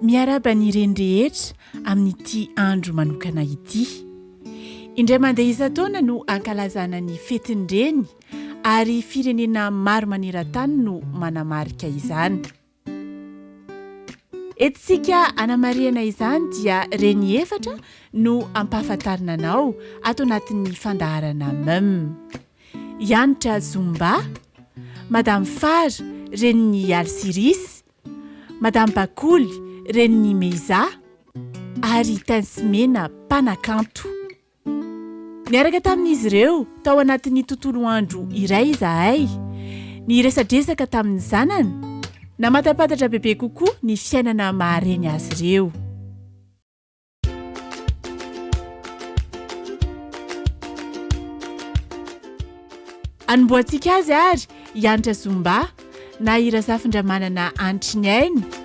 Miaraba ny ireny rehetra amin'ity andro manokana ity. Indray mandeha isan-taona no ankalazana ny fetin'ny reny ary firenena maro maneran-tany no manamarika izany. Entintsika hanamarihana izany dia reny efatra no ampahafantarina anao ato anatin'ny fandaharana Mum. I Hanitra Zumba, Madame Far, renin'i Alsiris, Madame Bakoly, renin'i Meiza, ary Tensy Mena, mpanakanto. Niaraka tamin'izy ireo tao anatin'ny tontolo andro iray izahay. Niresadresaka tamin'ny zanany. Namatampatatra bebe kokoa ny fiainana maha-reny azy ireo. Anombohantsika azy ary i Anitra Zumba na i Razafindramanana Anitry ny aina.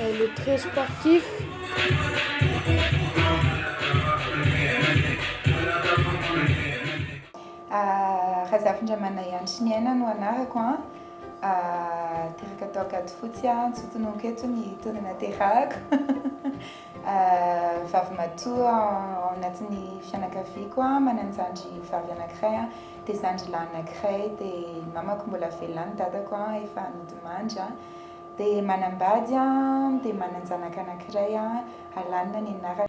Elle est très sportive. Razafindramanayanto sy Miaina no anarako an! teraka tao Ankadifotsy aho, tsy ho tononiko eto ny taona naterahako, vavimatoa ao anatin'ny fianakaviako aho, manan-jandry vavy anankiray an, dia zandry lahy anankiray, dia ny mamako mbola velona any, ny dadako efa nodimandry an. Dia manambady an, dia mananjanaka anankiray an, Alana ny anarany.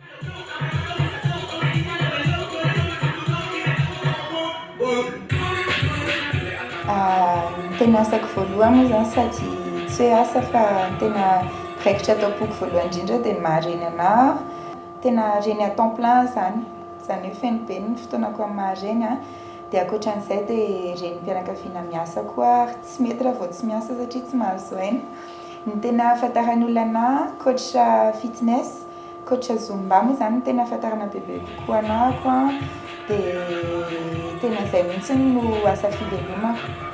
Ny tena asako voalohany moa izany sady tsy hoe asa fa ny tena mpirakitra ato am-poko voalohany indrindra dia ny maha reny anah aho. Tena reny à temps plein aho izany, izany hoe feno be ny fotoanako amin'ny maha reny ahy. Dia ankoatran'izay dia renim-pianakaviana miasa koa ary tsy mety raha vao tsy miasa satria tsy mahazo aina. Ny tena ahafantaran'ny olona anà, coach fitness, coach zumba moa izany no tena ahafantarana bebe kokoa anako an, dia tena izay mihitsy no asa fivelomako.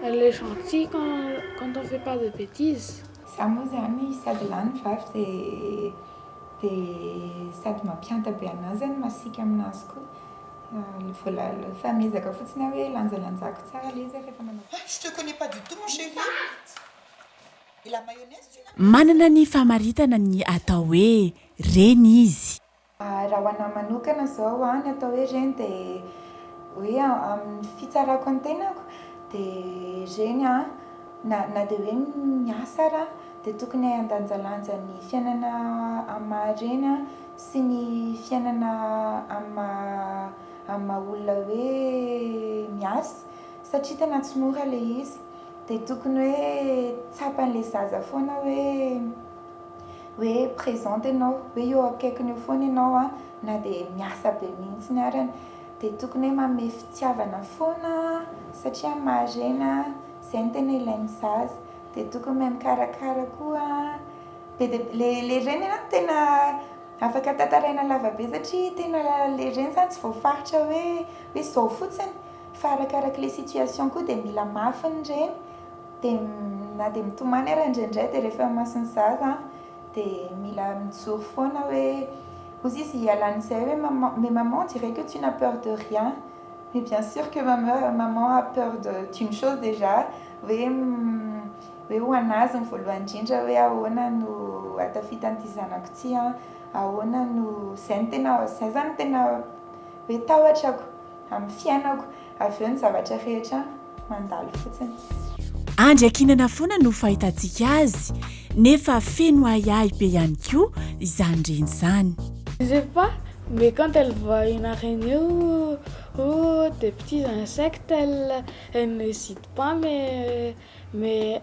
Elle est gentille quand on fait pas de betises. Za moa zany sady lany ny vavy de de sady mampianta be anah zany masiaka aminazy koa vola efa miezaka fotsiny aho hoe lanjalanjako tsara le izy zany refa manao Hein je te connais pas du tout mon chéri et la mayonnaise tu n'as pas Manana ny famaritana ny atao hoe reny izy. Raha ho anahy manokana izao an, ny atao hoe reny dia hoe amin'ny fitsarako ny tenako dia reny an, na na dia hoe miasa ara dia tokony handanjalanja ny fiainana amin'ny maha reny an sy ny fiainana amin'ny maha amin'ny maha olona hoe miasa satria tena tsy mora ilay izy dia tokony hoe tsapan'ilay zaza foana hoe hoe présente ianao hoe eo akaikiny eo foana ianao a na dia miasa be mihitsiny ary an dia tokony hoe manome fitiavana foana satria maharena izay no tena ilain'ny zaza dia tokony mahay mikarakara koa be dia be le le reny aloha no tena afaka tantaraina lava be satria tena le reny izany tsy voafaritra hoe hoe izao fotsiny fa arakarak'ilay situation koa dia mila mafy ny reny Dia na dia mitomany ary indraindray dia rehefa imason'ny zaza an, dia mila mijoro foana hoe hozy izy hialan'izay hoe maman, mais maman on dirait que tu n'as peur de rien, mais bien sur que maman, maman a peur de d'une chose déjà hoe hoe ho an'azy ny voalohany indrindra hoe ahoana no hatafitan'ity zanako ity an, ahoana no, izay no tena, izay zany no tena hoe tahotrako amin'ny fiainako, avy eo ny zavatra rehetra. mandalo fotsiny. Andry akinana foana no fahitantsika azy nefa feno ahiahy be ihany koa izany reny izany. Je sais pas mais quand elle voit une araignée ou ou des petits insectes elle elle n'hésite pas mais mais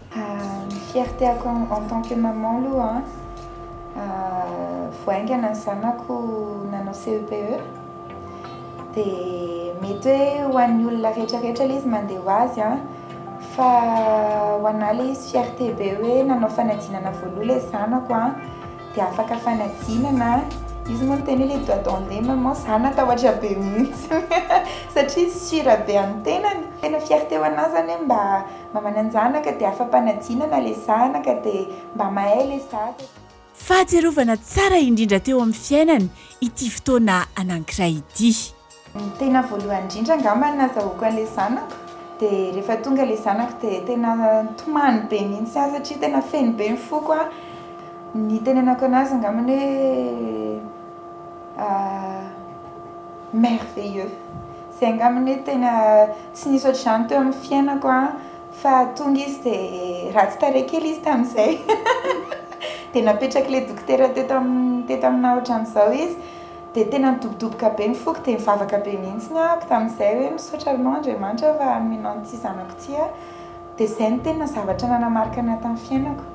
Ny fierteako en tant que maman aloha vao haingana ny zanako nanao CEPE dia mety hoe ho an'ny olona rehetrarehetra ilay izy mandeha ho azy an, fa ho anah ilay izy fierte be hoe nanao fanadinana voaloha ilay zanako an, dia afaka fanadinana, izy moa niteny hoe ilay doigt d'onde maman za natahotra be mihitsy satria izy sure be amin'ny tenany, tena fierte ho anah izany hoe mba. Mamananjanaka dia afa-panajiana na le zanaka dia mba mahay le zaza. Fahatsiarovana tsara indrindra teo amin'ny fiainany ity fotoana anankiray ity. Ny tena voalohany indrindra angamba nazahoako an'ilay zanako dia rehefa tonga ilay zanako dia tena tomany be mihitsy aho satria tena feno be ny foko aho. Nitenenako an'azy angamba hoe merveilleux. Zay angamba anie tena tsy nisy ohatr'izany teo amin'ny fiainako an! Fa tonga izy dia ratsy tarehy kely izy tamin'izay dia napetrak'ilay dokotera teto amin'ny teto aminà ohatran'izao izy dia tena nidobodoboka be ny foko dia nivavaka be mihitsy aho tamin'izay hoe misaotra anao Andriamanitra fa nomenao an'ity zanako ity aho dia izay no tena zavatra nanamarika anà tamin'ny fiainako.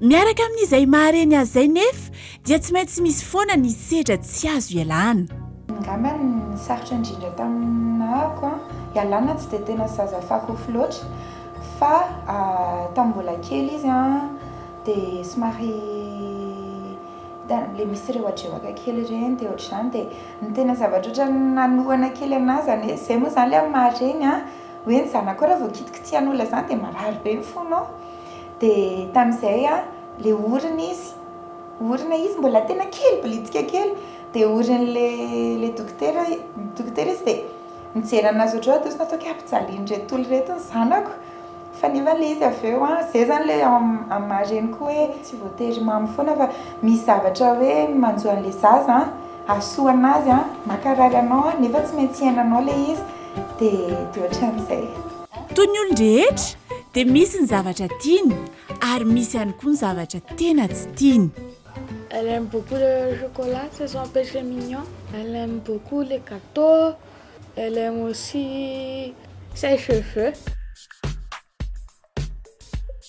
Miaraka amin'izay mahare ny azy izay nefa dia tsy maintsy misy foana ny sedra tsy azo ialana. Angamba ny sarotra indrindra tamin'ako an, ialana tsy dia tena zaza fahofy loatra fa tamin'ny mbola kely izy an dia somary le misy rewatreoaka kely ireny dia ohatr'izany dia ny tena zavatra ohatran'ny nanohana kely anah izany hoe izay moa izany ilay amin'ny maha reny an hoe ny zanakao raha vao kitikitihana olona izany dia marary be ny fonao. Dia tamin'izay an, le orina izy, orina izy mbola tena kely, bilitsika kely, dia orin'le le dokotera, dokotera izy dia nijery anazy ohatr'izao dia sao kay ampijalian'ireto toly ireto ny zanako, fa nefa le izy avy eo an, zay zany le ao amin'ny maha reniko hoe tsy voatery mamo foana fa misy zavatra hoe manjo an'le zaza an, hahasoa anazy an, mankarary anao an, nefa tsy maintsy iainanao le izy, dia dia ohatran'izay. Toy ny olon-drehetra, dia misy ny zavatra tiany ary misy ihany koa ny zavatra tena tsy tiany. Elle aime beaucoup le chocolat, c'est son péché mignon. Elle aime beaucoup les gâteaux, elle aime aussi ses cheveux.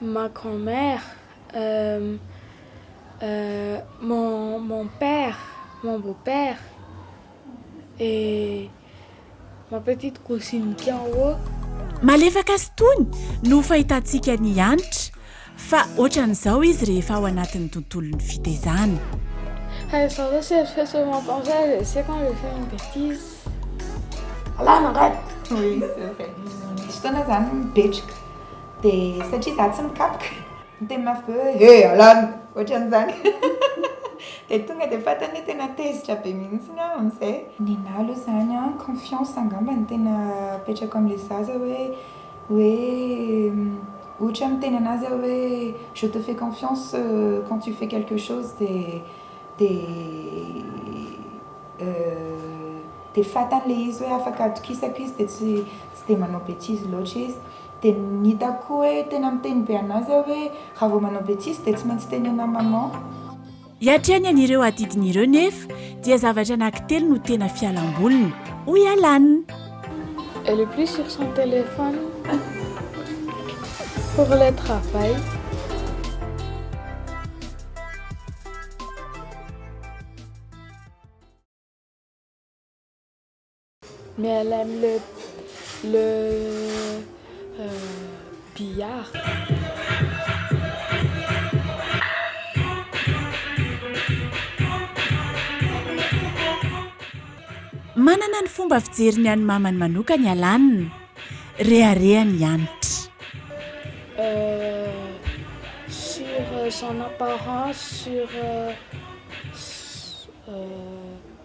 ma grand mère, euh, euh, mon, mon père, mon beau père et ma petite cousine qui en haut. Malefaka sy tony no fahitantsika an'i Hanitra fa ohatran'izao izy rehefa ao anatin'ny tontolon'ny fitezana. Hey, ça va, c'est fait ce matin, je sais quand je fais une bêtise. Alana angady! Oui, c'est vrai. Misy fotoana izany mipetraka. Dia satria za tsy mikapoka, miteny mafy be hoe he alàna! ohatran'izany. Dia tonga dia fantany hoe tena tezitra be mihitsiny aho amin'izay. Nenaha aloha izany an, confiance angamba no tena apetrako amin'ilay zaza hoe, hoe ohatra hoe miteny anazy aho hoe je te fais confiance quand tu fais quelque chose dia, dia, dia fantany ilay izy hoe afaka atokisako izy dia tsy, tsy dia manao betizy loatra izy. Dia ny hitako hoe tena miteny be an'azy aho hoe raha vao manao betise dia tsy maintsy tenena maman. Hiatrehany an'ireo adidiny ireo nefa dia zavatra anankitelo no tena fialamboliny, hoy Alan. Elle est plus sur son téléphone pour le travail. Mlm le le Manana ny fomba fijeriny an'i Mamany manokana i Alan. Rehareha ny hanitra. Sur son apparence, sur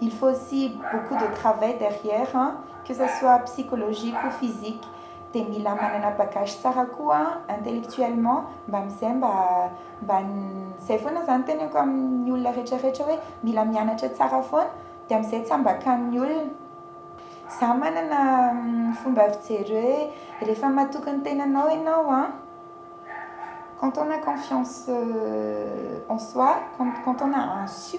Il faut aussi beaucoup de travail derrière an, que ça soit psychologique ou physique, dia mila manana bagage tsara koa intellectuellement mba amizay mba mba zay foana zany teneniko amin'ny olona rehetra rehetra hoe mila mianatra tsara foana dia amizay tsy ambakan'ny olona. Za manana fomba fijery hoe rehefa matoky ny tenanao enao an, quand on a confiance en soi, quand on a un su.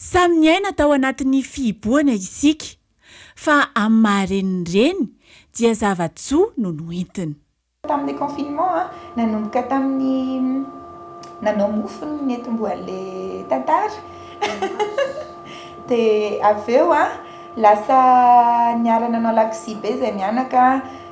Samy niaina tao anatin'ny fihibohana isika, fa amin'ny maha reniny reny dia zava-tsoa no noentiny. Tamin'ny confinement, nanomboka tamin'ny nanao mofo ny nentim-boan'ilay tantara. Dia avy eo lasa niara-nanao lakozia be izay mianaka.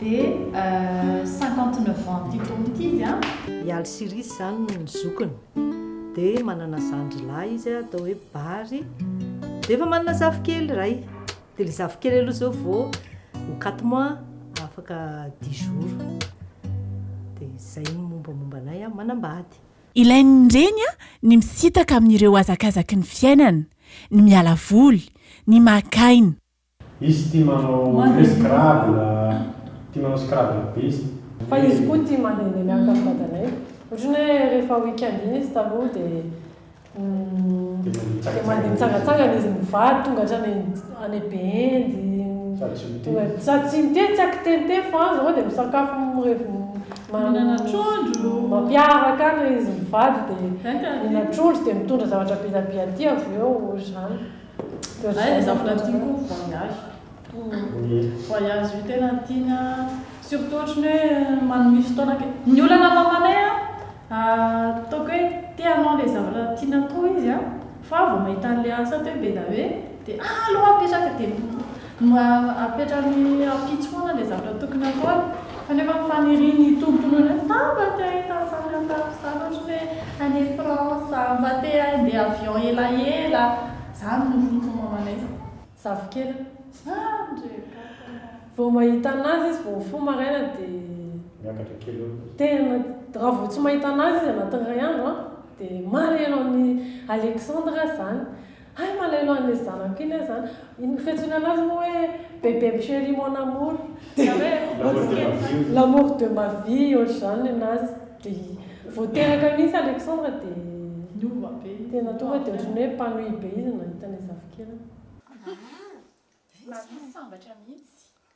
Dia cinquante neuf ans ity tompo ity izy an! I Alsirisy izany no zokiny. Dia manana zandry lahy izy atao hoe Bary. Dia efa manana zafikely iray. Dia ilay zafikely aloha izao vao ho quatre mois, afaka dix jours. Dia izay ny mombamomba anay an! Manambady. Ilain'ny reny ny misintaka amin'ireo hazakazaky ny fiainana, ny miala voly, ny maka aina. Izy tia manao hoe scrabble, tia manao scrabble be izy. Fa izy koa tia mandehandeha miaraka amin'ny dadanay. Ohatrany hoe rehefa week-end iny izy taloha dia dia mandeha mitsangatsangana izy mivady tonga hatrany any Behenjy, sady tsy mitety tsy akiteniteny fa any izao dia misakafo mihinana trondro, mampiaraka any izy mivady dia mihinana trondro dia mitondra zavatra be dia be aty avy eo, ohatr'izany. Ay ny zafy na tiako voyage voyage io tena tiany an surtout ohatriny hoe manome fotoana kely ny olana mamanay an ataoko hoe te hanao le zavatra tiana koa izy an fa vao mahita anle asa teo be da hoe de allo apetraka de Mba apetrany ampitso foana ilay zavatra tokony ataony, kanefa ny fanirian'ny tompony hoe ta mba te ahita an'izany aho tato izany ohatra ny hoe any France, mba te handeha avion elaela, izany no route mamanay zafikely an. Vao mahita anazy izy vao mifoha maraina dia tena, raha vao tsy mahita anazy izy anatin'ny iray andro an, dia marihina amin'i Alexandre izany. Hay malelo anle zanako iny aza an! Ino fiantsoana anazy moa hoe bebem chéri mon amour zany hoe l'amour de ma vie otrzany anazy de vao teraka mihintsy Alexandre de niova be izy tena tonga de otrany hoe mpanohy be izy nahita anle zafikeliny. Aah! Mahavy sambatra mihintsy.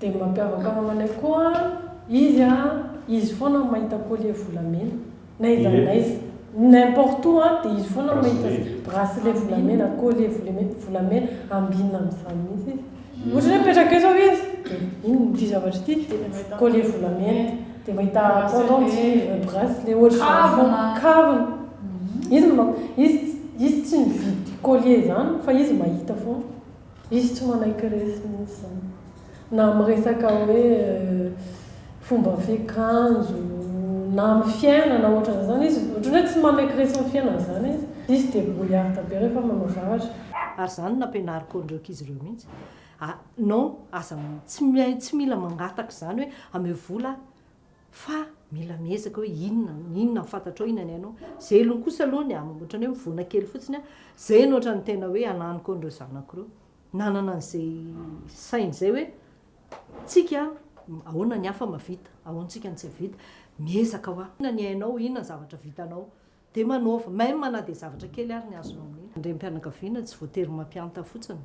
Dia ny mampiavaka ny mamanay koa izy a, izy foana no mahita collier volamena na iza na iza, n'importe où a dia izy foana no mahita bracelet volamena, collier volemena, volamena, ambinina amin'izany mihitsy izy. Ohatra hoe mipetraka eo izao izy dia iny ity zavatra ity dia collier volamena, dia mahita pendant cuivre, bracelet ohatr'izany foana, kavina. Izy no, izy, izy tsy mividy collier izany fa izy mahita foana. Izy tsy manaiky resy mihitsy izany na amin'ny resaka hoe fomba fiakanjo na amin'ny fiainana ohatran' izany izy ohatran' ny hoe tsy manaiky resy amin'ny fiainana izany izy. Izy debrouillarde be rehefa manao zavatra. Ary izany no nampianariko an'ireo ankizy ireo mihitsy a! non aza tsy mila mangataka izany hoe ameo vola aho. Fa mila miezaka hoe inona no inona no fantatrao inona ny hainao. Zelony kosa aloha ny amin'ny ohatran'ny hoe mivoana kely fotsiny aho. Izay no ohatran'ny tena hoe ananiko an'ireo zanako ireo. Nanana an'izay saina izay hoe tsika ahoana ny hafa mahavita, ahoantsika no tsy hahavita. Miezaka ho ahy. Inona ny hainao, inona ny zavatra vitanao. Dia manaova, même na dia zavatra kely ary ny azonao amin'ny. Andriampianakaviana, tsy voatery mampianta fotsiny.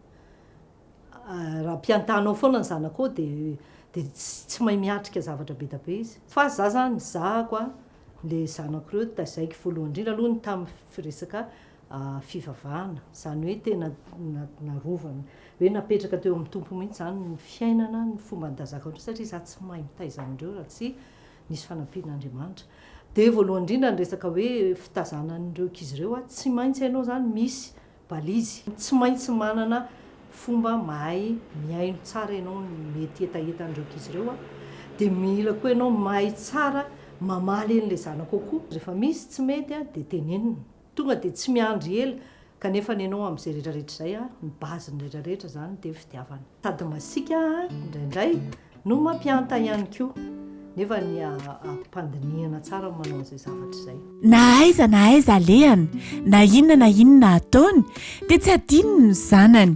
Raha mpiantanao foana ny zanakao dia dia tsy mahay miatrika zavatra be da be izy. Fa za zany nizahako an le zanako reo taizaiky voalohany indrindra aloha ny tam firesaka fivavahana zany hoe tena narovany hoe napetraka teo am Tompo mihitsy zany ny fiainana ny fomba nitazako anreo satria za tsy mahay mitaiza anreo raha tsy nisy fanampian'Andriamanitra. Dia voalohany indrindra ny resaka hoe fitazanan'ireo ankizy ireo, tsy maintsy hainao izany misy balizy, tsy maintsy manana fomba mahay mihaino tsara ianao ny mety hetahetan'ireo ankizy ireo, dia mila koa ianao mahay tsara mamaly an'ilay zanakao koa, rehefa misy tsy mety dia tenenina. Tonga dia tsy miandry ela kanefa ny anao amin'izay rehetra rehetra izay a, ny base ny rehetra rehetra izany dia fitiavana. Sady masiaka indraindray no mampianta ihany koa nefa ny ampipandinihana tsara ny manao an'izay zavatra izay. Na aiza na aiza alehany, na inona na inona ataony dia tsy adinony ny zanany.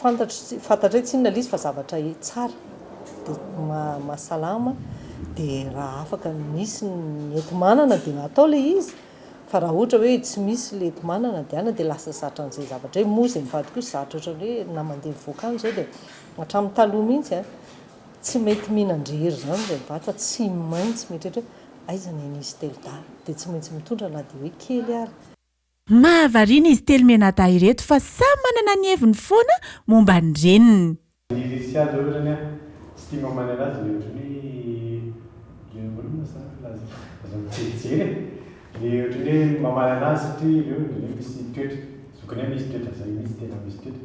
Fantatro tsy fantatray tsinona lay izy fa zavatra tsara de mahasalama de raha afaka misy ny enti-manana de atao lay izy fa raha ohatra hoe tsy misy lay enti-manana de any de lasa zatra an'izay zavatra zay, moa zay mivady kosa zatra ohatran'ny hoe na mandeha mivoaka any zao de hatramin'ny taloha mihitsy a tsy mety mihinan-drery zany zay mivady fa tsy maintsy mieritreritra hoe aiza ny an'izy telo dahy de tsy maintsy mitondra na de hoe kely ary. Mahavariana izy telo mianadahy ireto fa samy manana ny heviny foana momba ny reniny. Ry Sia zao otrany an, tsy tia mamany anazy le otrany hoe le ahoana ma zany filaza azy aza mijerijery e, le otrany hoe mamany anazy satria ireo misy toetra, zokiny misy toetra zay mihitsy tena misy toetra.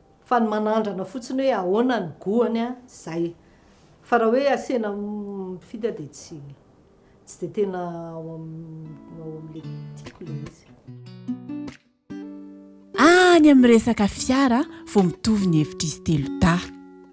Fa ny manandrana fotsiny hoe ahoana ny goany a, zay. Fa raha hoe asena mpifidy aho dia tsy tsy dia tena ao amin'ilay tiako ilay izy. Any amin'ny resaka fiara vao mitovy ny hevitr'izy telo dahy.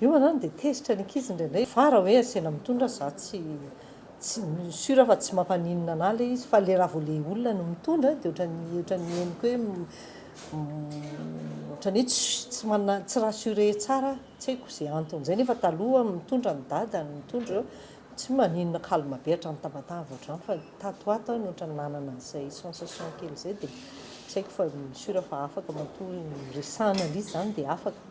Io manao dia tezitra ny ankizy indraindray fa raha hoe asena mitondra za tsy tsy sur fa tsy mampaninona anah ilay izy fa ilay raha vao ilay olona no mitondra dia ohatran'ny ohatran'ny henoko hoe ohatran'ny hoe tsy tsy manana tsy rassurer tsara aho tsy haiko izay antony izay nefa taloha mitondra ny dada no mitondra eo tsy maninona calme be hatrany tabataba ohatran'ny izany fa tato ho ato aho no ohatran'ny nanana an'izay sensation kely izay dia tsy haiko fa sur fa afaka matoa ny resahana ilay izy izany dia afaka.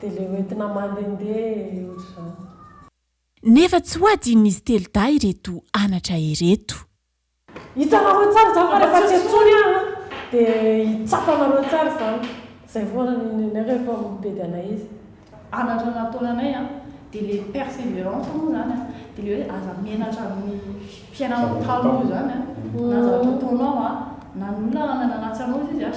Dia le hoentina mandehandeha e otrzany. Nefa tsy ho adinon'izy telo dahy ireto anatra ireto. Hitanareo tsara izany fa rehefa tsy antsoiny aho an, dia hitsapa anareo tsara izany. Izay foana ny nenay rehefa mibedy anay izy. Anatra nataona anay an, dia le perseverance moa izany an, dia le hoe aza menatra amin'ny fiainanao taloha izany an, na zavatra ataonao an, na ny olona nananatsa anao izy izy an,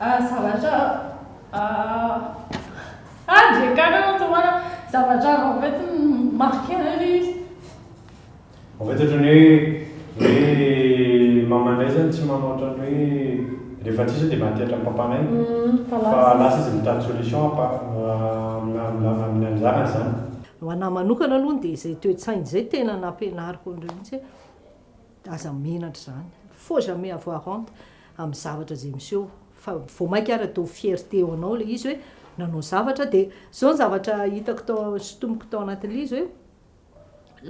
Ah zavatra ah ah ndry akany aloha tsy mahalala zavatra en fait mi-marque anay ilay izy. En fait ohatran'ny hoe hoe mamanay zany tsy manao ohatran'ny hoe rehefa tsy iza dia maty hatran'ny papanay fa lasa izy mitady solution à part amina amina ny zanany zany. Ho anahy manokana aloha dia izay toe-tsaina izay tena nampianariko an'ireo mihitsy hoe. Aza menatra izany, faut jamais avoir honte amin'ny zavatra izay miseho fa vao mainka ary atao fierté ho anao ilay izy hoe nanao zavatra dia izao ny zavatra hitako tao sintomiko tao anatin'ilay izy hoe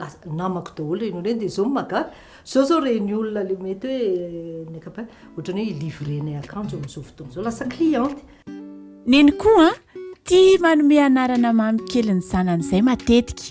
lasa namako daholo ireny olona ireny dia izao no mahagaga izao izao ireny olona ilay mety hoe ny ankapobeny ohatran'ny hoe hi-livrer-nay akanjo amin'izao fotoana izao lasa cliente. Neny koa tia manome anarana mamy kely ny zanany izay matetika.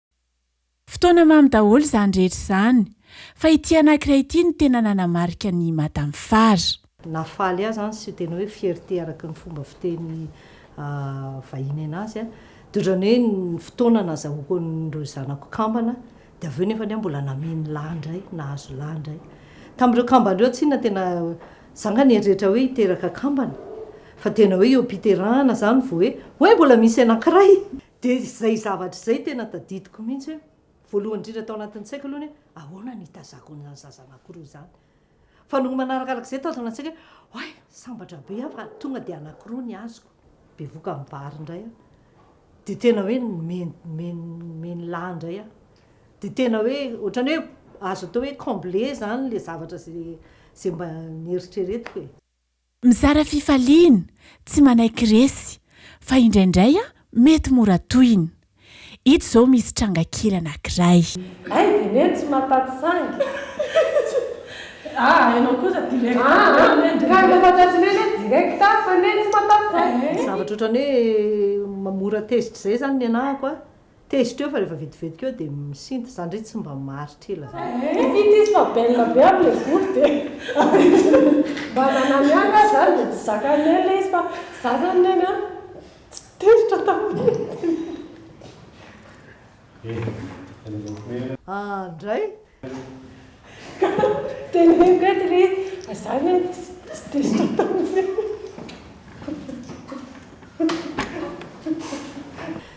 Fotoana mamy daholo izany rehetra izany. Fa ity anankiray ity no tena nanamarika an'i Madame Far. Na faly aza an, sy tena hoe fierté araka ny fomba fiteny vahiny anazy an, de otrany hoe ny fotoana nazahoako an'ireo zanako kambana, de avy eo nefa anie mbola nameno lahy indray, nahazo lahy indray. Tamin'ireo kambana ireo tsinona tena, za nga nieritreritra hoe hiteraka kambana, fa tena hoe eo am-piterahana zany vao hoe, oay mbola misy anankiray! Dia izay zavatra izay tena tadidiko mihitsy hoe, voalohany indrindra tao anatin'ny saiko aloha ny hoe, ahoana no hitazako an'izany zaza anankiroa izany? Fa nony manarakarak'izay tao izany an-tsaiko hoe, oay, sambatra be aho fa tonga dia anankiroa ny azoko. Bevoka amin'ny vary indray aho. Dia tena hoe mimenilà indray aho. Dia tena hoe, ohatran'ny hoe azo atao hoe combler izany ilay zavatra izay mba nieritreretiko e. Mizara fifaliana, tsy manaiky resy, fa indraindray mety mora tohina. Ito izao misy tranga kely anankiray. Ay dia neny tsy mahataty saingy. Aa ianao kosa direct aa ka rehefa mahataty neny hoe direct aa fa neny tsy mahataty saingy. Zavatra ohatran'ny hoe mora tezitra izay izany ny anahako a. Tezitra eo fa rehefa vetivetika eo dia misinta. Za ndray tsy mba maharitra ela zany. Ehh vita izy fa belle be aby le volo dia mba nanano ihany aho zany dia tsy zakany ela izy fa za zany neny an tsy tezitra taminy. Ahh ndray Tena hoe mety re fa za anie tsy dia sata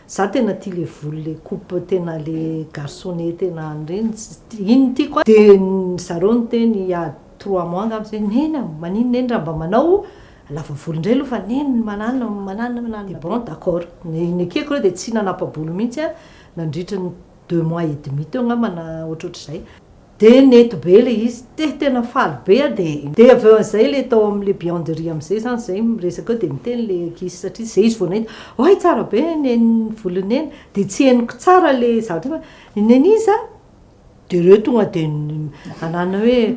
Za tena tia le volo le coupe tena le garçonnet tena any reny iny no tiako a! Dia zareo niteny il y a trois mois angamba zay, neny a! manino neny raha mba manao lava volo indray aloha fa neny manana manana manana, dia bon d'accord, ny ekeko aloha dia tsy nanapa-bolo mihintsy aho nandritra ny. deux mois et demi teo angamba na ohatrohatr'izay, dia nety be ilay izy, dia tena faly be aho, dia dia avy eo amin'izay ilay tao amin'ilay beyond de rire amin'izay izany izay miresaka eo dia miteny ilay ankizy satria izay izy vao nahita, oay tsara be neny ny volo neny, dia tsy henoko tsara ilay zavatra hoe i neny iza? dia ireo tonga dia ananany hoe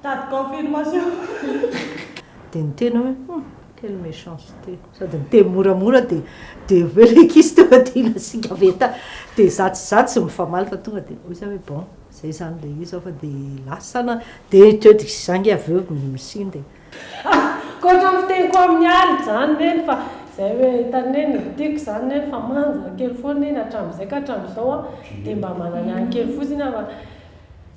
Mitady confirmation. Dia niteny aho hoe, hum, quelle méchanceté, sady niteny moramora dia dia avy eo ilay ankizy tonga dia nasiaka veta dia izaho tsy izaho tsy mifamaly fa tonga dia hoy izaho hoe bon, izay izany ilay izy aho fa dia lasa na dia teo dia izaho nge avy eo misimisiny dia. Ankoatra ny fiteniko amin'i Aly izany neny fa izay hoe hitany neny ny tiako izany neny fa manja kely foana iny hatramin'izay ka hatramin'izao an dia mba manana kely fotsiny aho fa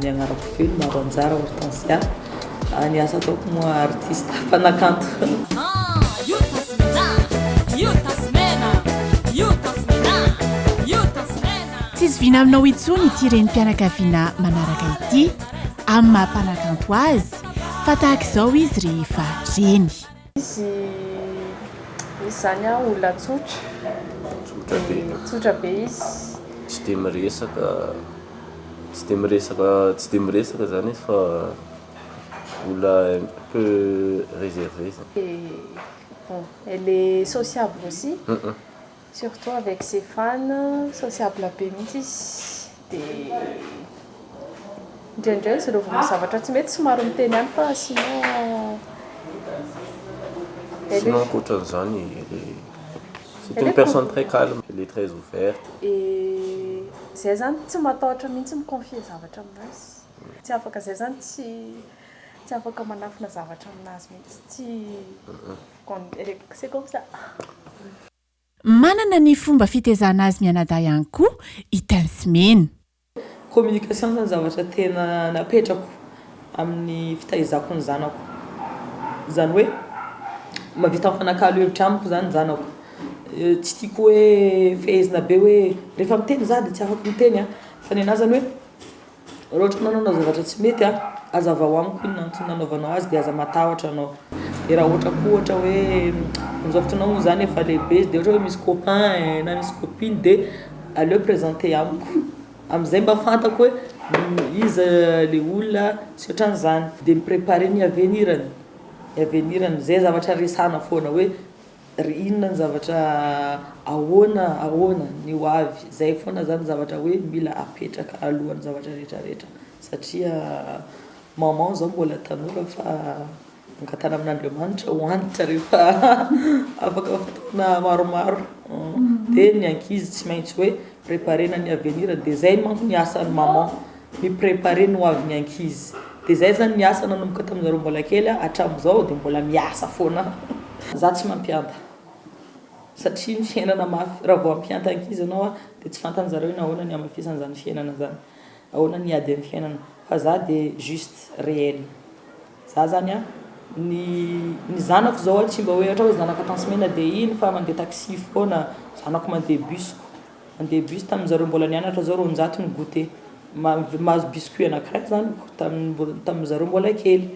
Ny agnarako feno maro anjara Hortensia a Ny asa ataoko moa artista mpanakanto. Tsisy vina aminao intsony ity renim-pianakaviana manaraka ity amin'ny maha mpanakanto azy fa tahaka izao izy rehefa reny. Izy misy zany aho olona tsotra dia tsotra be izy, tsy dia miresaka tsy dia miresaka tsy dia miresaka zany izy fa olona un peu reservée zany. Dia bon elle est sociable aussi. Surtout avec ses fans, sociable be mihitsy izy dia indraindray izy rovina zavatra tsy mety somary miteny ihany fa sinon elle est Sinon ankoatran'izany elle est c'est une personne très calme, elle est très ouverte. Et zay zany tsy matahotra mihitsy mi-confier zavatra aminazy, tsy afaka zay zany tsy tsy afaka manafina zavatra aminazy mihitsy, tsy Manana ny fomba fitezana azy mianadahy ihany koa i Tinsimena. Communication zany zavatra tena napetrako amin'ny fitaizako ny zanako. Zany hoe mahavita mifanakalo hevitra amiko zany ny zanako. Tsy tiako hoe fehezina be hoe rehefa miteny za de tsy afaka miteny a. Fa nenaha zany hoe. Raha ohatra ka nanao zavatra tsy mety a, azavao amiko inona antony nanaovanao azy de aza matahotra anao. De raha ohatra koa ohatra hoe amin'izao fotoanao moa zany efa lehibe izy de ohatra hoe misy copain na misy copine de aleo presenter amiko am'zay mba fantako hoe iza le olona sy ohatran'zany de mi-preparer ny avenir-ny, ny avenir-ny, zay zavatra resahana foana hoe Ry inona ny zavatra ahoana ahoana ny ho avy, zay foana zany zavatra hoe mila apetraka alohan'ny zavatra rehetra rehetra satria maman zao mbola tanora fa angatana amin'Andriamanitra ho antitra rehefa afaka fotoana maromaro dia ny ankizy tsy maintsy hoe preparena ny avenir dia zay manko ny asan'ny maman mi preparer ny ho avy ny ankizy de zay zany ny asa nanomboka tamin zareo mbola kely hatramizao de mbola miasa foana. Za tsy mampianta satria ny fiainana mafy raha vao hampianta ankizy ianao de tsy fantan zareo hoe nahoana ny hamafisana zany fiainana zany ahoana ny ady am fiainana fa za de juste reel za zany a ny ny zanako zao a tsy mba hoe ohatra hoe zanaka tansy mena de iny fa mande taxi foana zanako mande bus ko. En debut tamin'ny zareo mbola nianatra zao roanjato ny goûter. Mahazo biscuit anankiray zany tamin'ny zareo mbola kely.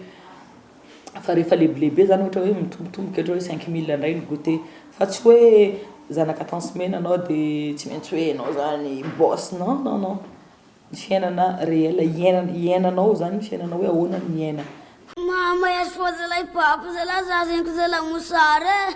Fa rehefa lebilehibe zany ohatra hoe mitombotomboka ohatra hoe cinq mille indray ny goûter. Fa tsy hoe zanaka temps semaine anao dia tsy maintsy hoe enao zany boss non non non. Ny fiainana réel iainana iainanao zany ny fiainanao hoe ahoana ny miaina. Mahamay azy foa zalahy pape zalahy za zegny ko zalahy mosary e.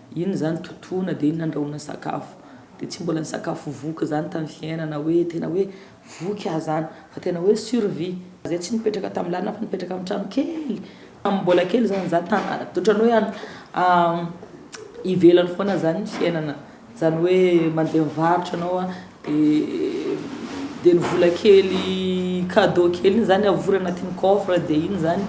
Inona izany totoana dia inona andrahoana sakafo. Dia tsy mbola nisakafo voky izany tamin'ny fiainana hoe tena hoe voky aho izany fa tena hoe survie. Izay tsy nipetraka tamin'ny lalana fa nipetraka amin'ny trano kely tamin'ny mbola kely izany izaho tany ohatran'ny hoe any ivelany foana izany ny fiainana. Izany hoe mandeha mivarotra ianao. Dia ny vola kely cadeau kely iny zany avory anatin'ny coffre dia iny zany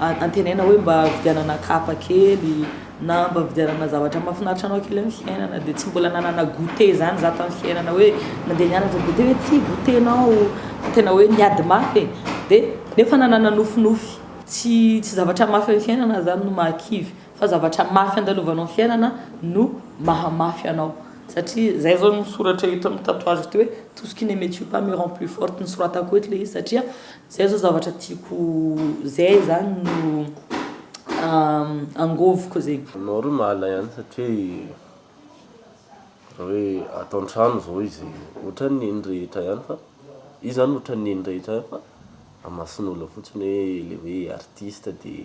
antenaina hoe mba vidianana kapa kely na mba vidianana zavatra mahafinaritra anao kely amin'ny fiainana dia tsy mbola nanana goûté zany za tamin'ny fiainana hoe nandeha nianatra goûté hoe ty goûté nao tena hoe niady mafy e dia nefa nanana nofinofy tsy tsy zavatra mafy amin'ny fiainana zany no mahakivy fa zavatra mafy andalovanao ny fiainana no mahamafy anao satria zay zao ny soratra eto amin'ny tatouage ity hoe tout ce qui ne me tue pas me rend plus forte nosoratako eto le izy satria zay zao zavatra tiako zay zany no angoviko zegny. Anao re mahalay any satria raha hoe ato antrano zao izy ohatran'ny neny rehetra ihany fa izy zany ohatran'ny neny rehetra ihany fa amason'olo fotsiny hoe le hoe artiste de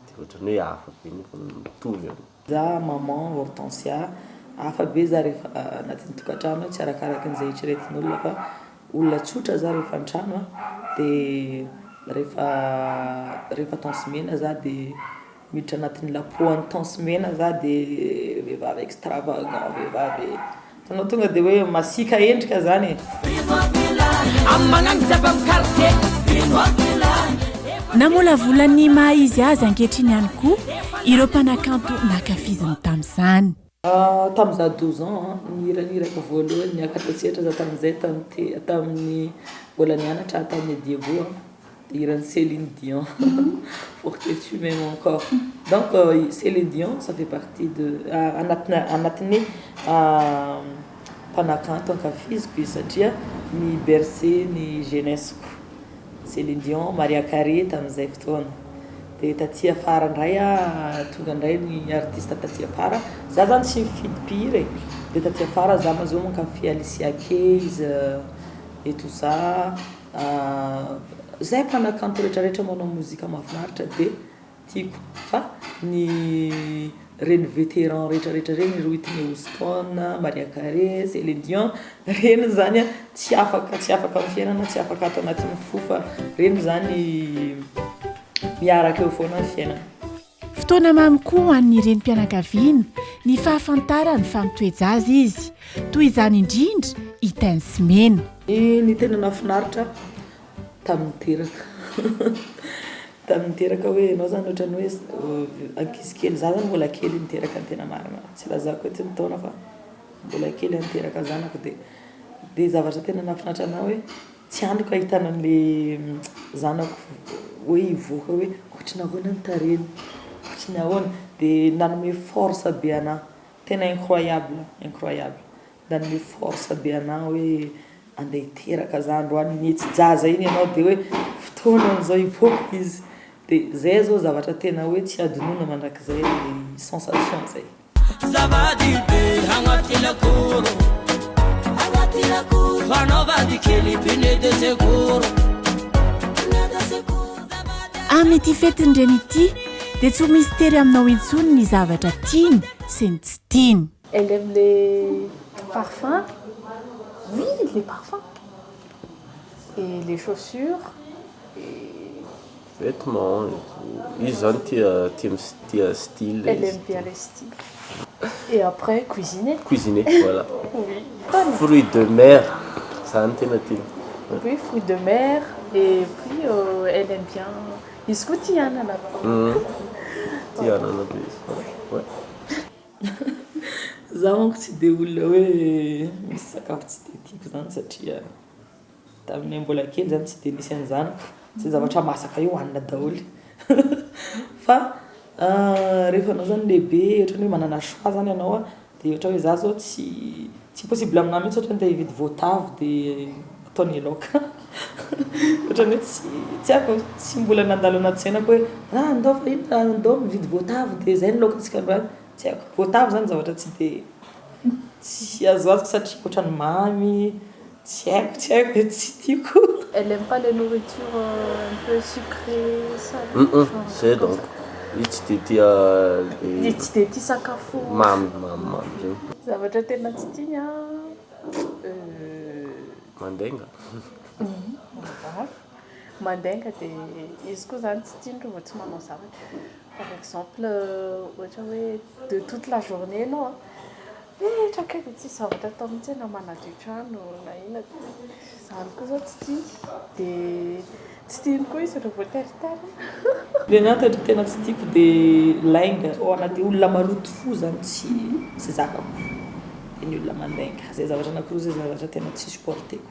Dia ohatrany hoe hafa be nefa mitovy an. Za maman Hortensia, hafa be za rehefa anatin'ny tokantrano tsy arakaraky ny ze eritreretin'olona fa olona tsotra za rehefa antrano an dia rehefa rehefa tansy mena za dia miditra anatin'ny lapohan'ny tansy mena za dia vehivavy extravagant vehivavy. Tanao tonga de hoe masiaka endrika zany e. Namolavola ny maha izy azy ankehitriny ihany koa ireo mpanakanto nankafiziny tamin'izany. Tamin'izaho douze ans ny hiranirako voalohany niakatra tsy ela za tamin'izay tamin'ny mbola nianatra aho tamin'ny Diego. Hiran'i Celine Dion pour que tu m'aimes encore donc Celine Dion ça fait partie de anatina anatin'ny mpanakanto ankafiziko izy satria mi berce ny jeunesse ko Celine Dion, Maria Carey tamin'izay fotoana dia taty afara indray aho tonga indray ny artiste taty afara za zany tsy mifidy mpihira e dia taty afara za mazoa mankafy Alicia Keys et tout ça. Ahh zay mpanakanto rehetra rehetra manao mozika mafinaritra de tiako fa ny reny veteran rehetra rehetra reny ry Whitney Houston, Maria Carey, Celine Dion reny zany a tsy afaka tsy afaka amin'ny fiainana tsy afaka ato anatin'ny fo fa reny zany miaraka eo foana ny fiainana. Fotoana mamy koa ho an'ny renim-pianakaviana ny fahafantarany fa mitoe-jaza izy. Toy izany indrindra i Tinzy Mena. Ny tena nahafinaritra tamin'ny teraka tamin'ny teraka hoe ianao izany ohatran'ny hoe ankizy kely, izaho izany mbola kely niteraka ny tena marina, tsy ilazako eto ny taona fa mbola kely aho niteraka zanako dia dia zavatra tena nahafinaritra anahy hoe. Tsy antoka ahitana an'ilay zanako hoe hivoaka hoe ohatry ny ahoana ny tarehiny, ohatry ny ahoana. Dia nanome force be anah, tena incroyable, incroyable. Nanome force be anah hoe andeha hiteraka za androany, mihetsi-jaza iny ianao dia hoe fotoana amin'izao hivoaka izy. Dia zay zao zavatra tena hoe tsy hadinoina mandrakizay, sensation zay. Amin'ity fetin-dreny ity dia tsy ho misy tery aminao intsony ny zavatra tiany sy ny tsy tiany. Elle aime les parfums, oui les parfums et les chaussures et. Vetements e, izy zany tia tia mi tia style izy. Elle aime bien les styles. Et après cuisiner. Cuisiner voilà. Oui. Fruits de mer zany tena tiany. Oui fruits de mer et puis elle aime bien izy koa tia anana. Tia anana be izy ouais. Za manko tsy de olona hoe misy sakafo tsy de tiako zany satria. Taminay mbola kely zany tsy dia nisy an'izany zay zavatra masaka io hanina daholo fa rehefa anao zany lehibe ohatrany hoe manana choix zany ianao dia ohatra hoe za zao tsy tsy possible aminahy mihitsy ohatrany te hividy voatavo dia atao ny laoka ohatrany hoe tsy tsy haiko tsy mbola nandalo anaty sainako hoe ah ndao fa inona ndao mividy voatavo dia zay ny laokantsika androany tsy haiko voatavo zany zavatra tsy dia tsy azoazoko satria ohatrany mamy Tsy haiko, tsy haiko e, tsy tiako. Elle aime pas les nourritures un peu sucrées, salées, genre comme ça. Zay donc, izy tsy dia tia be. Izy tsy dia tia sakafo. Mamy, mamy, mamy reny. Zavatra tena tsy tiany an, euh. Mandainga. Mandainga dia izy koa zany tsy tiany reo vao tsy manao zavatra. Par exemple ohatra hoe de toute la journée enao an, mipetraka eo de tsisy zavatra atao mihitsy enao manadio trano na inona zany koa zao tsy tiako de tsy tiany koa izy raha voateriterina. Ny anah toetra tena tsy tiako de lainga oh na de olona maloto fo zany tsy tsy zakako de ny olona mandainga zay zavatra anakiroa zay zavatra tena tsy supporteko.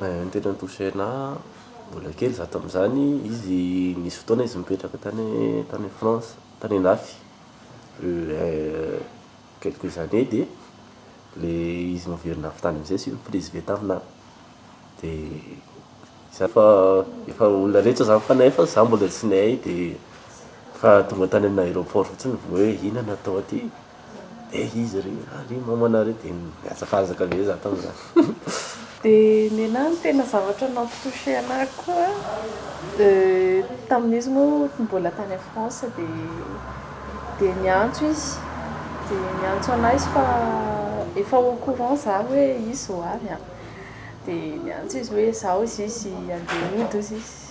Ny tena ni-toucher anah mbola kely za tamin'izany izy nisy fotoana izy nipetraka tany tany France tany andafy quelques années dia le izy noverina avy tany am'zay sy ni-presve taminah de zany fa efa olona rehetra zany fa nefa za mbola tsy nihay de fa tonga tany amin'ny aéroport fotsiny vao hoe inona no atao aty. Dia izy re, ah re mamana re dia niazakazaka be za tamin'izany. Dia nenah no tena zavatra nampitoucher anah koa tamin'izy moa mbola tany en France dia dia niantso izy dia niantso anah izy fa efa au courant za hoe izy ho avy an, dia niantso izy hoe zao izy izy handeha hody hozy izy.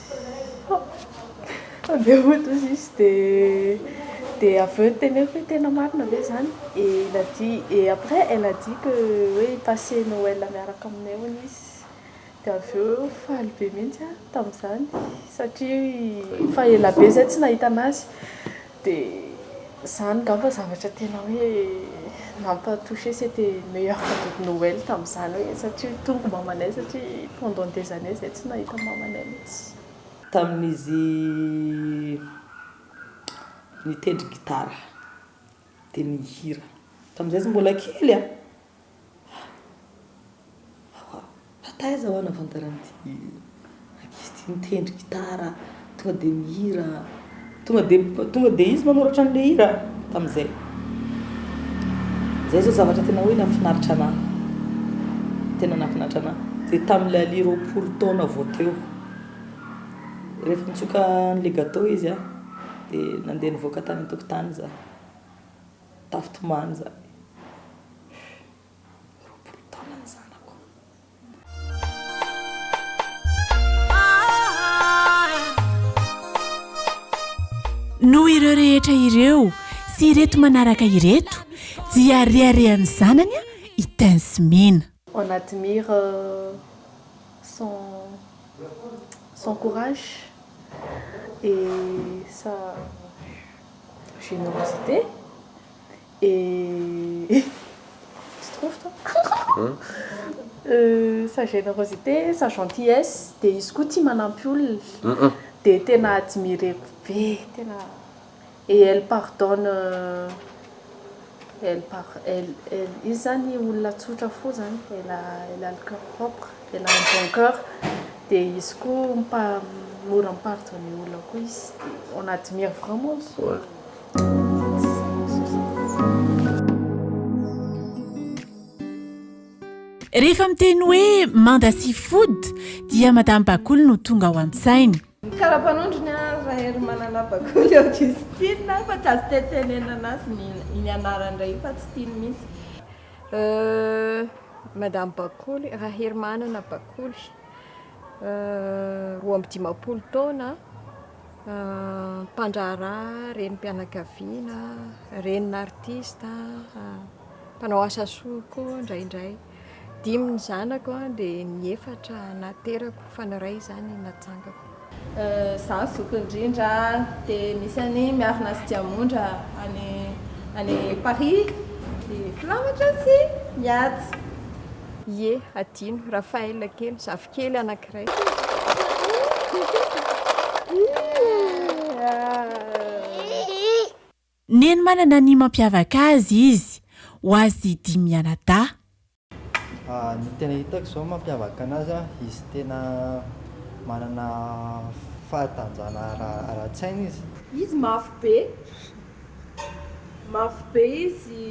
Avy eo ohatra izy misy dia dia avy eo teneniko hoe tena marina ve zany? Et il a dit, et après elle a dit que hoe hi-passer Noël miaraka aminay hono izy, dia avy eo faly be mihitsy aho tamin'izany satria efa ela be zay tsy nahita an'azy. Dia izany angamba zavatra tena hoe nampa toucher sy été meilleur cadeau de Noël tamin'izany hoe satria tonga mamanay satria pendant des années izay tsy nahita mamanay mihitsy. Tamin'izy nitendry gitara dia nihira tamin'izay izy mbola kely a! Fa taiza ho'a nafantaran'ity ankizy ity mitendry gitara, tonga dia mihira, tonga dia tonga dia izy manoratra an'ilay hira tamin'izay. Izay izao zavatra tena hoe nafinaritra anahy, tena nafinaritra anahy, dia tamin'ilay alia roapolo taona vao teo. Rehefa nitsoka an'ilay gateau izy a, dia nandeha nivoaka tany an-tokotany izaho. tafitomany izany. Roapolo taona ny zanako. Noho ireo rehetra ireo sy ireto manaraka ireto dia reharehan'ny zanany i Tensmina. On admire son son courage et sa. Générosité et tu trouves toi? Sa générosité sa gentillesse dia izy koa tia manampy olona dia tena admireko be tena et elle pardonne. Elle par elle, elle, izy zany olona tsotra fo zany, elle a, elle a le coeur propre, elle a un bon coeur, dia izy koa mpa, mora mi-pardonner olona koa izy, dia on admire vraiment izy io. Rehefa miteny hoe manda sy food dia madame Bakul no tonga ao an-tsaina. Ny karapanondrony an ra hery manana bakoly ao diso tiany na fa tsy azo tetenenana azy ny iny anarany iray iny fa tsy tiany mihitsy. Euh madame bakoly ra hery manana bakoly roa amby dimampolo taona mpandraharaha renim pianakaviana renin artiste mpanao asa soa koa indraindray. Dimy ny zanako dia ny efatra naterako fa ny iray izany natsangako. Izaho ny zoky indrindra dia misy an'i Miarina sy Diamondra any any Paris dia filamatra sy mihaja. Ie, hadino, Raphaël kely, zafikely anankiray. Ie, ahh. Neny manana ny mampiavaka azy izy. Ho azy dimy mianadahy. Ny tena hitako izao mampiavaka anazy an, izy tena manana fahatanjahana ara-tsaina izy. Izy mafy be, mafy be izy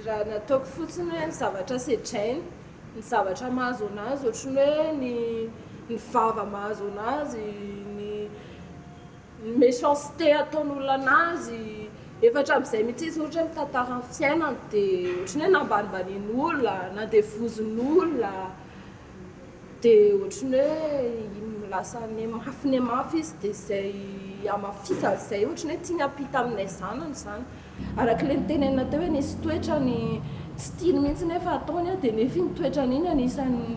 raha ny ataoko fotsiny hoe ny zavatra sedrainy, ny zavatra mahazo anazy ohatry ny hoe ny vava mahazo anazy, ny. ny méchanceté ataon'olona anazy efa hatramin'izay mihitsy izy ohatra hoe mitantara ny fiainany dia ohatran'ny hoe nambanimbanian'olona na dia vozon'olona dia ohatran'ny hoe lasa nihemafy nihemafy izy dia izay hamafisany izay ohatran'ny hoe tiany hampita amin'ilay zanany izany Araka ilay notenenina teo hoe nisy toetrany tsy tiany mihitsy nefa ataony dia nefa iny toetrany iny anisan'ny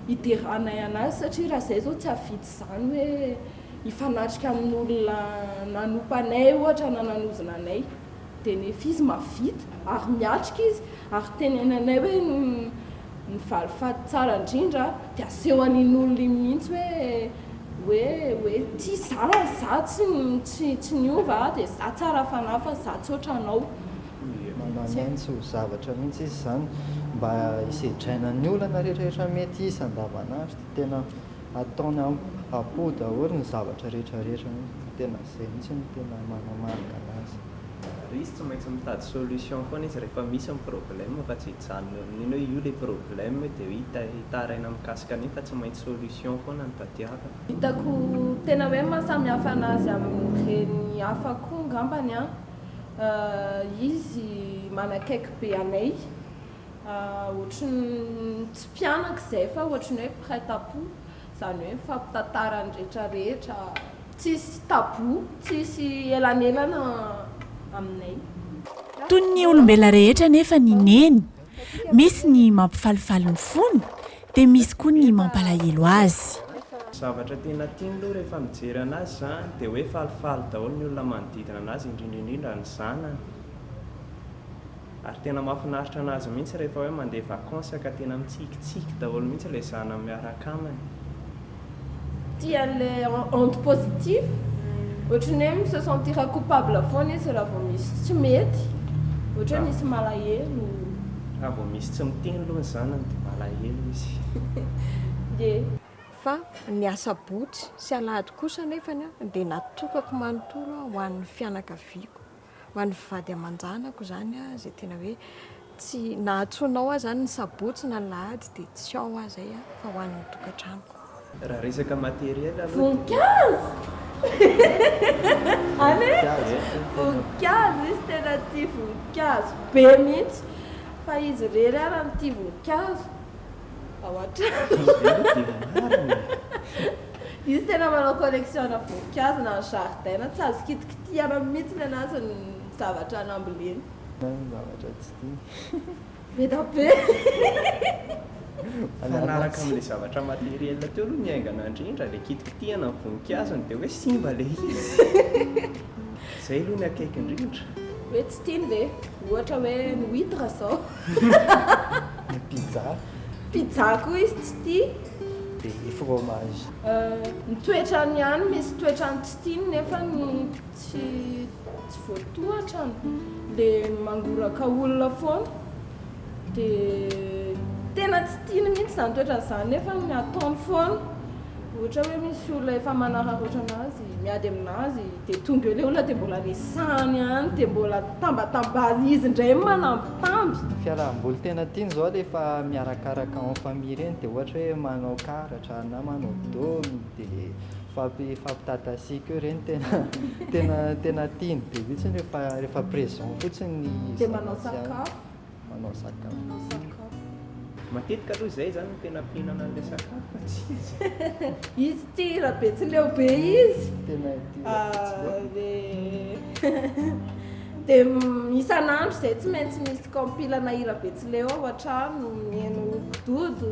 hideranay an'azy satria raha izay izao tsy hahavidy izany hoe hifanatrika amin'olona nanompa anay ohatra na nanozona anay dia nefa izy mahavita ary miatrika izy ary tenenanay hoe Ny valifaty tsara indrindra dia aseho an'in'olona iny mihitsy hoe hoe hoe ity zara za tsy tsy tsy niova a dia za tsara fanahy fa za tsy ohatranao. Mananantsy ho zavatra mihitsy izy izany mba hisedraina ny olana rehetrarehetra mety hisy andavanandro dia tena. ataony am apo daholo ny zavatra rehetra rehetra mihitsy fa tena izay mihitsy no tena manamarika anazy. Ary izy tsy maintsy mitady solution foana izy rehefa misy ny problème fa tsy hijanona eo amin'iny hoe io ilay problème dia hoe hitaraina mikasika an'iny fa tsy maintsy solution foana no tadiaviny. Hitako tena hoe mahasamihafa anazy amin'ny reny hafa koa ngambany an, izy manakaiky be anay. Ohatry ny tsy mpianaka izay fa ohatry ny hoe prête à poux, izany hoe mifampitantara ny rehetra rehetra, tsisy tabou, tsisy elanelana aminay. Toy ny olombelona rehetra anefa ny Neny, misy ny mampifalifaly ny fony dia misy koa ny mampalahelo azy. Zavatra tena tiany aloha rehefa mijery anazy izany dia hoe falifaly daholo ny olona manodidina anazy indrindra indrindra ny zanany. Ary tena mahafinaritra anazy mihitsy rehefa hoe mandeha vacances ka tena mitsikitsiky daholo mihitsy ilay zanany miaraka aminy. Tia an'ilay onde positive, ohatry ny hoe mi se sentira coupable foana izy raha vao misy tsy mety, ohatra hoe misy malahelo. Raha vao misy tsy miteny aloha ny zanany dia malahelo izy. Ie. Fa ny asabotsy sy alahady kosa anefany dia natokako manontolo ho an'ny fianakaviako Ho an'ny vady aman-janako izany, izay tena hoe tsy, na antsoina ao aza izany ny sabotsy na ny lahady dia tsy ao aho izay fa ho an'ny tokantranoko. Raha resaka matériel aloha dia. Voninkazo! Any e! Voninkazo, izy tena tia voninkazo be mihitsy fa izy irery ary no tia voninkazo ao an-trano. Izy irery aloha dia marina e! Izy tena manao collection-na voninkazo na ny zaridaina tsy azo kitikitihina. Tiana mihitsy ny anazy ny zavatra namboleny. Ny zavatra tsy tiany. Beda be. Mifanaraka amin'ilay zavatra matériel teo aloha ny haingana indrindra, ilay kitikitihana ny voninkazony dia hoe simba ilay izy. Izay aloha ny akaiky indrindra. Hoe tsy tiany ve? Ohatra hoe ny huitre izao. Ny pizza. Pizza koa izy tsy tia. Dia ny fromage. Ny toetrany ihany, misy toetrany tsy. Tiany nefa ny tsy tsy voatohatra an! Le mangoraka olona foana dia tena tsy tiany mihitsy izany toetrany izany nefa ny ataony foana ohatra hoe misy olona efa manararaotra anazy miady aminazy dia tonga eo ilay olona dia mbola resahany ihany dia mbola tambatambaziny izy indray manambitamby. Ny fiarahamboly tena tiany izao rehefa miarakaraka en famille ireny dia ohatra hoe manao karatra na manao domy. dia fampitatassiako eo ireny tena tena tena tiany be mihitsy rehefa rehefa présent fotsiny ny dia manao sakafo manao sakafo manao sakafo matetika aloha izay zany no tena mpihinana an'ilay sakafo fa tsy izy izy tia raha betsileo be izy tena tia ah, dia isan'andro izay tsy maintsy misy kaompilana hira betsileo ao an-trano mihaino dodo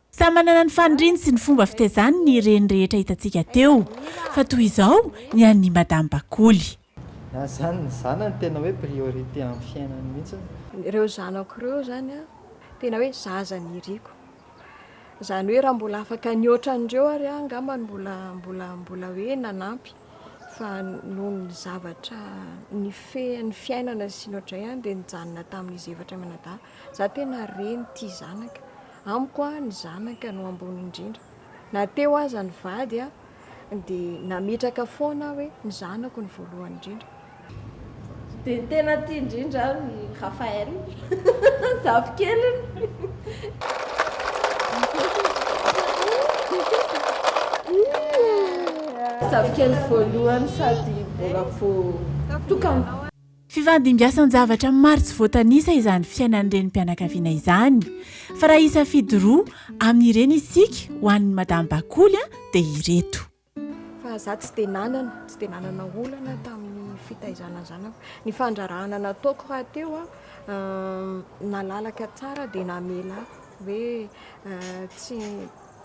Samy manana ny faniriany sy ny fomba fitezany ny reny rehetra hitantsika teo, fa toy izao ny an'ny Madame Bakoly. Na zany ny zanany tena hoe priorité amin'ny fiainany mihitsy. Ireo zanako ireo zany an, tena hoe zaza niriko. Zany hoe raha mbola afaka ny otran'ireo ary aho angamba no mbola mbola mbola hoe nanampy fa noho ny zavatra nifehan'ny fiainana sy ny otray ihany dia nijanona tamin'izy efatra mianadahy. Za tena reny tia zanaka. Amiko ny zanaka no ambony indrindra. Na teo aza ny vady dia nametraka foana aho hoe ny zanako no voalohany indrindra. Dia ny tena tia indrindra aho i Raphaël, zafikeliny voalohany sady mbola vao tokana. Fifandimbiasan-javatra maro tsy voatanisa izany fiainan'ny renim-pianakaviana izany. Fa raha hisafidy roa amin'ireny isika ho an'ny Madame Bakoly dia ireto. Fa izaho tsy dia nanana, tsy dia nanana olana tamin'ny fitaizana zanako. Ny fandrarahana nataoko rahateo nalalaka tsara dia namela ahy hoe tsy,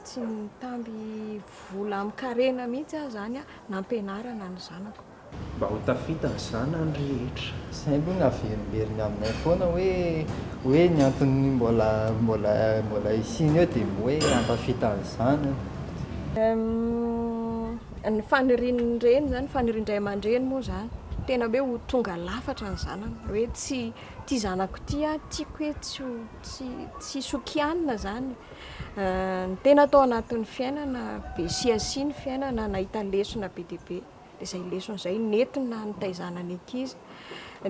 tsy nitamby vola amin-karena mihitsy aho izany nampianarana ny zanako. Mba ho tafita ny zanany rehetra. Zay aloha ny averimberiny aminay foana hoe hoe ny antony mbola mbola mbola isiany eo dia hoe hampafita ny zanany. Humm ny fanirian'ny reny zany fanirian-dray aman-dreny moa zany tena hoe ho tonga lafatra ny zanany hoe tsy ity zanako ity aho tiako hoe tsy ho tsy tsy hisy ho kianina zany ny tena tao anatin'ny fiainana be sy asia ny fiainana nahita lesona be dia be. izay lesona izay nentina nitaizana ny ankizy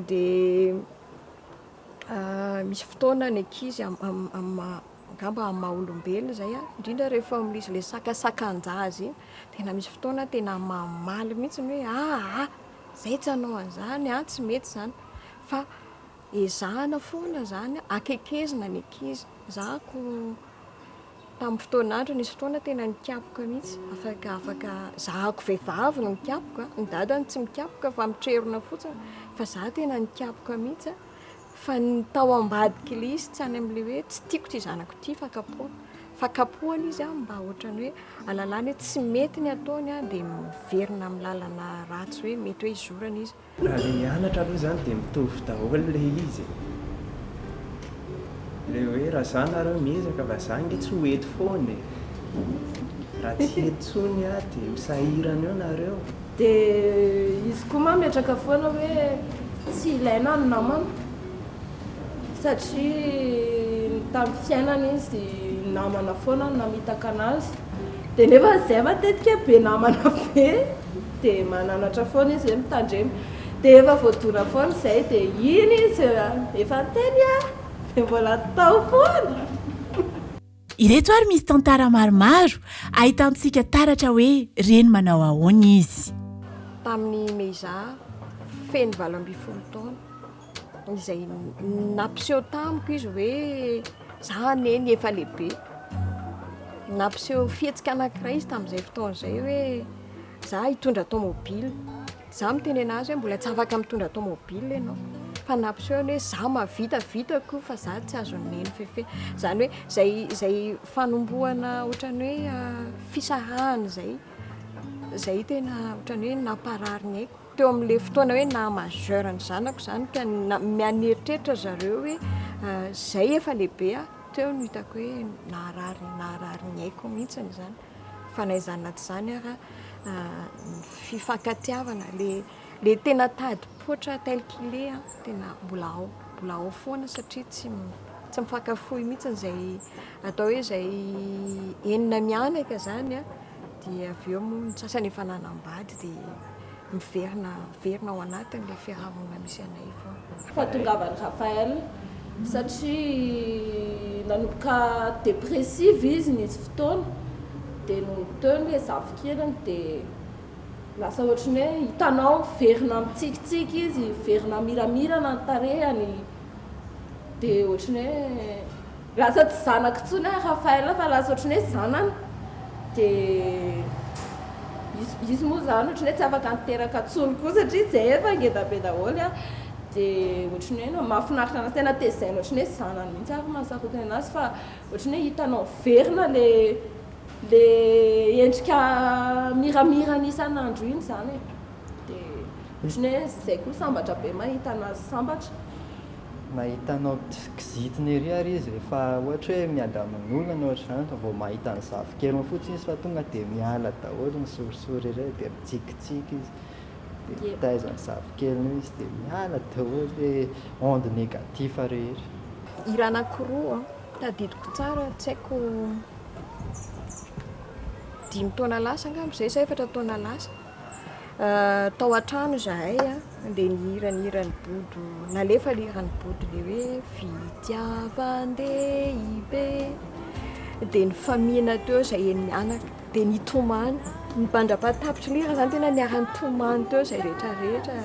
dia misy fotoana ny ankizy angamba amin'ny maha olombelona izay an, indrindra rehefa misy ilay sakasakan-jaza iny, tena misy fotoana tena mamaly mihitsy ny hoe aa izay tsy hanao an'izany an, tsy mety izany fa ezahina foana izany an, akaikezina ny ankizy, ezahiko Tamin'ny fotoana andro nisy fotoana tena nikapoka mihitsy, afaka afaka zahako vehivavy no mikapoka, ny dadany tsy mikapoka fa mitrerona fotsiny fa za tena nikapoka mihitsy fa ny tao ambadik'i Lisy tsy any amin'ilay hoe tsy tiako ity zanako ity fa kapohana fa kapohana izy an mba ohatrany hoe alalana hoe tsy mety ny ataony dia miverina amin'ny lalana ratsy hoe mety hoe izorana izy Raha le hianatra aloha zany de mitovy daholo le izy e! Le hoe raha za nareo miezaka fa za nge tsy ho eto foana e! Raha tsy eto tsony aho de ho sahirana eo nareo. De izy koa ma metraka foana hoe tsy ilaina ny namana satria ny tam fiainany izy namana foana no namitaka anazy de nefa zay matetika be namana be. dia mananatra foana izy hoe mitandrema dia efa voadona foana izay dia iny izy efa niteny a! dia mbola tao foana! Ireto ary misy tantara maromaro ahitantsika taratra hoe reny manao ahoana izy. Tamin'ny Meiza, feno valo ambin'ny folo taona. izay nampiseho tamiko izy hoe za anie ny efa lehibe. Nampiseho fihetsika anankiray izy tamin'izay fotoana izay hoe za hitondra tomobile. Za mitenena azy hoe mbola tsy afaka mitondra tomobile ianao. Fa nampiseho ny hoe za mahavita, vitako fa za tsy azon'i Neny fefena. Izany hoe izay izay fanombohana ohatran'ny hoe ah, fisarahana izay, izay tena ohatran'ny hoe namparary ny aiko. Teo amin'ilay fotoana hoe naha majeur ny zanako izany ka miha-nieritreritra ry zareo hoe izay efa lehibe aho, teo no hitako hoe naharary naharary ny aiko mihitsy izany. Fa na izany na tsy izany ara, ny fifankatiavana, ilay ilay tena tadim-poitra tel qu'il est an, tena mbola ao, mbola ao foana satria tsy tsy mifankafoy mihitsy izay atao hoe izay enina mianaka izany an. Dia avy eo moa ny sasany efa nanambady dia miverina miverina ao anatin'ilay fiarahamonina misy anay foana. Fahatongavan'i Raphaël satria nanomboka dépressive izy nisy fotoana dia nony teo ny hoe zafikeliny dia lasa ohatran'ny hoe hitanao miverina mitsikitsiky izy miverina miramirana ny tarehany dia ohatran'ny hoe Lasa tsy zanako intsony aho Raphaël fa lasa ohatran'ny hoe zanany dia izy izy moa izany ohatran'ny hoe tsy afaka niteraka intsony koa satria izahay efa ngeda be daholo an, dia ohatran'ny hoe no mahafinaritra an'azy tena tezaina ohatran'ny hoe zanany mihitsy ary mahasarotiny an'azy fa ohatran'ny hoe hitanao miverina ilay ilay endrika miramirany isan'andro iny izany e. Dia ohatran'ny hoe izay koa sambatra be mahita anazy sambatra. Mahita anao kizitina ery ary izy rehefa ohatra hoe miady amin'olona na ohatr'izany vao mahita ny zafikeliny fotsiny izy fa tonga dia miala daholo ny sorisory ireny dia mitsikitsiky izy dia mitaiza ny zafikeliny eo izy dia miala daholo le onde negatif rehetra. Hira anankiroa tadidiko tsara tsy haiko dimy taona lasa angamba izay sa efatra taona lasa. Tao an-trano izahay dia nihira ny hiran'i Bodo, nalefa ilay hiran'i Bodo ilay hoe fitiavan-dehibe. Dia nifaminana teo izahay enỳ mianaka, dia nitomany. Ny mpandra-pahatapitr'i Lira izany tena niara-nitomany teo izahay rehetra rehetra,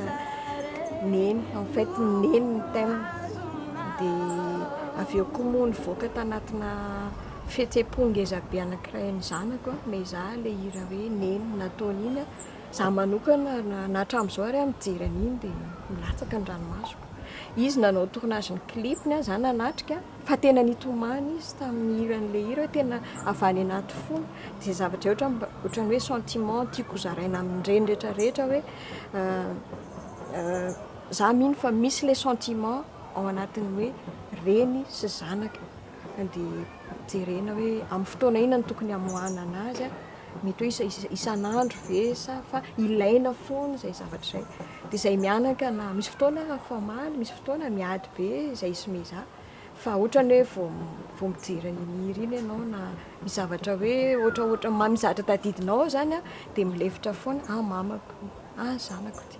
neny, en fait neny ny thème. Dia avy eo koa moa nivoaka tanatinà. Fihetsem-po ngeza be anankiray ny zanako a, miezaha ilay hira hoe Neny nataony iny a, za manokana na na hatramin'izao ary a mijery an'iny dia milatsaka ny ranomasoko. Izy nanao tournage ny clip-ny a, za nanatrika fa tena nitomany izy tamin'ny hiran'ilay hira hoe tena avy any anaty fony, dia izay zavatra izay ohatra mba ohatran'ny hoe sentiment tiako ho zaraina amin'ireny rehetra rehetra hoe za mino fa misy ilay sentiment ao anatin'ny hoe reny sy zanaka. Dia jerena hoe amin'ny fotoana inona no tokony hamoahana azy. Mety hoe isa- isan'andro ve sa fa ilaina foana izay zavatra izay. Dia izay mianaka na misy fotoana aho famaly, misy fotoana miady be izay sy mizà. Fa ohatrany hoe vao vao mijery an'iny hira iny ianao na misy zavatra hoe ohatraohatra ma- misy zavatra tadidinao ao izany dia milefitra foana, ah mamako ity, ah zanako ity.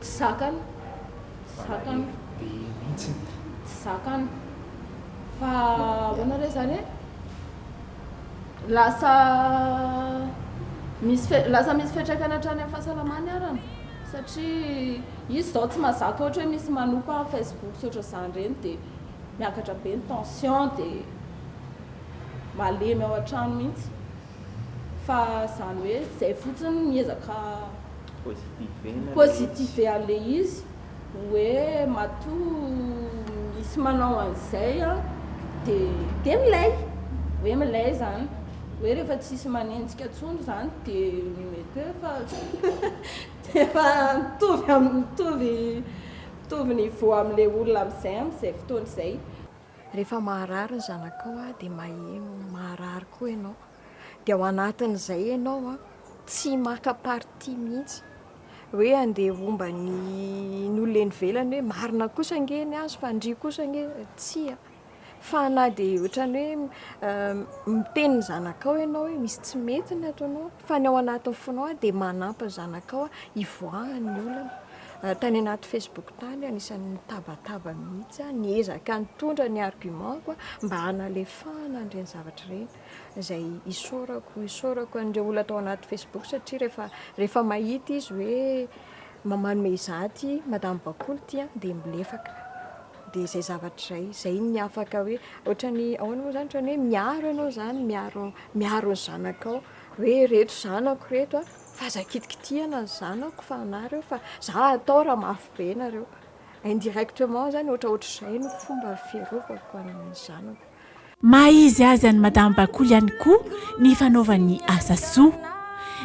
Tsy zakany, tsy zakany, tsy zakany, fa ahoana re zany e, lasa misy, lasa misy fiantraikany hatrany amin'ny fahasalamany ara an, satria izy zao tsy mazaka ohatra hoe misy manompa facebook sy ohatran'izany ireny dia miakatra be ny tension dia malemy ao an-trano mihintsy. fa zany hoe zay fotsiny miezaka positiver le izy hoe matoa misy manao an'izay an de de milay hoe milay zany hoe rehefa tsisy manenjika tsony zany de mety hoe efa efa mitovy mitovy mitovy niveau amle olona amizay amizay fotoana izay Rehefa maharary ny zanakao dia maheno maharary koa ianao. Dia ao anatin'izay ianao tsy maka parti mihitsy. Hoe andeha homba ny ny olona eny ivelany hoe marina kosa ange ny azy fa ndry kosa ange tsia. Fa na dia ohatran'ny hoe miteny ny zanakao ianao hoe misy tsy mety ny ataonao Fa ny ao anatin'ny fonao aho dia manampy ny zanakao hivoahan ny olana. Tany anaty Facebook tany aho anisan'ny nitabataba mihitsy aho niezaka nitondra ny argument ko mba hanalefahana an'ireny zavatra ireny izay isaorako isaorako an'ireo olona tao anaty Facebook satria rehefa rehefa mahita izy hoe manome izaho ity madame bakoly ity an dia milefaka dia izay zavatra izay izay no afaka hoe ohatran'ny ahoana moa izany ohatran'ny hoe miaro ianao izany miaro Miaro ny zanakao hoe ireto zanako ireto a, fa aza kitikitihana ny zanako fa anah ireo fa za atao raha mafy be nareo. Indirectement zany ohatra ohatr'izay no fomba fiarovako an'ny zanako. Maha izy azy an'i Madame Bakoly ihany koa ny fanaovany asa soa.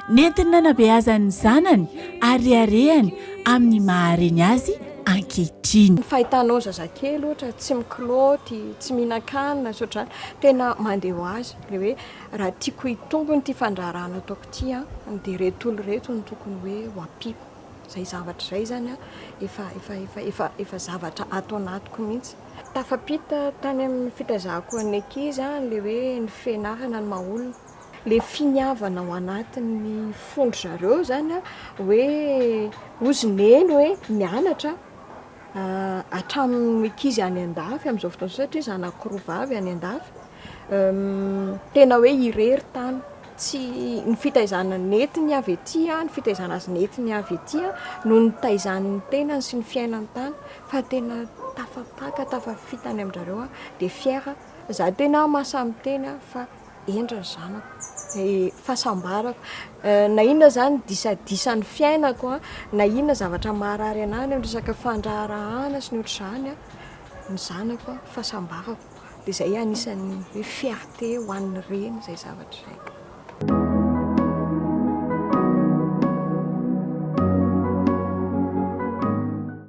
Nentiny nanabeazany ny zanany ary reharehany amin'ny maha reny azy ankehitriny. Ny fahitanao zazakely ohatra tsy mikilaoty, tsy mihinan-kanina sy ohatr'izany, tena mandeha ho azy ilay hoe raha tiako hitombo ity fandraharahana ataoko ity an, dia ireto olona ireto no tokony hoe ho ampiako. Izay zavatra izay izany an, efa, efa, efa, efa, efa zavatra ato anatiko mihitsy. Tafapita tany amin'ny fitaizako ny ankizy ilay hoe ny fianarana ny maha olona. le finiavana ao anatin'ny fon-dry zareo zany a, hoe ozy neny hoe nianatra hatramin'ny ankizy any an-dafy amin'izao fotoana izao satria zanako roa vavy any an-dafy, tena hoe irery tany, tsy, ny fitaizana nentiny avy aty, ny fitaizana azy nentiny avy aty no nitaizany ny tenany sy ny fiainany tany, fa tena tafapaka, tafafita any amin-dry zareo aho, dia fière, za tena mahasahy miteny aho fa. hendry ny zanako, ny fahasambarako, na inona izany disadisan'ny fiainako, na inona zavatra maharary anà ny resaka fandraharahàna sy ny ohatr'izany, ny zanako, ny fahasambarako. Dia izay anisan'ny hoe fierté ho an'ny reny izay zavatra izay.